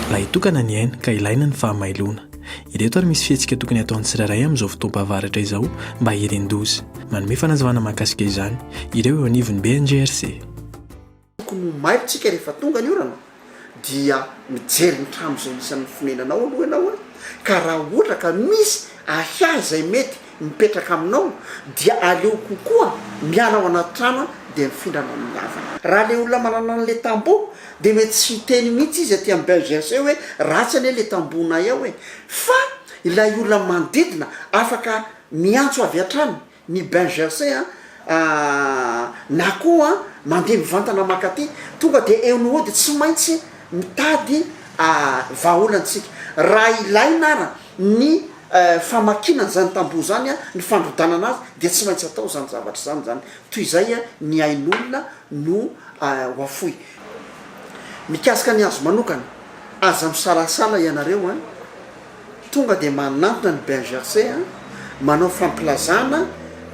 Ilay tokana ny aina ka ilaina ny fahamailoana. Ireto ary misy fihetsika tokony ataon'ny tsirairay amin'izao fotoam-pahavaratra izao mba hirindoza. Manome fanazavana mahakasika izany ireo eo anivon'ny BNGRC. Tokony ho mailo tsika rehefa tonga ny orana dia mijery ny trano izay isan'ny fonenanao aloha ianao a! ka raha ohatra ka misy ahiahy izay mety mipetraka aminao dia aleo kokoa miala ao anaty trano a! dia mifindra any amin'ny havana. Raha ilay olona manana an'ilay tamboho dia mety tsy hiteny mihitsy izy aty amin'ny BGRC hoe ratsy anie ilay tambohonay ao e! fa ilay olona manodidina afaka miantso avy hatrany ny bain gercé a na koa mandeha mivantana mankaty tonga dia eo ny hody tsy maintsy mitady vahaolantsika raha ilaina ara ny famakiana an'izany tamboho izany a ny fandrodanana azy dia tsy maintsy atao izany zavatra izany izany toy izay a ny ain'olona no ho afoy mikasika ny azy manokana aza misalasala ianareo a. Tonga dia manantona ny Ben Gercé an, manao fampilazana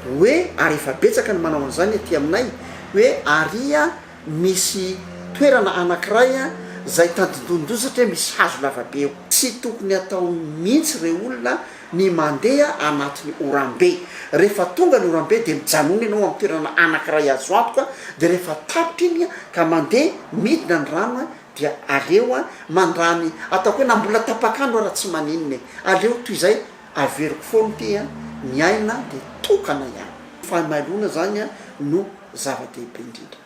hoe ary efa betsaka ny manao an'izany aty aminay hoe ary an misy toerana anankiray an izay tandindonin-doza satria misy hazo lavabe eo. Tsy tokony atao mihitsy ireo olona ny mandeha anatin'ny oram-be. Rehefa tonga ny oram-be dia mijanona ianao amin'ny toerana anankiray azo antoka dia rehefa tapitra iny an ka mandeha midina ny rano an Dia aleo an mandramy ataoko hoe na mbola tapak'andro ara tsy maninona e! aleo toy izay averiko foana ity an! ny aina dia tokana ihany. Fahamailoana izany an no zava-dehibe indrindra.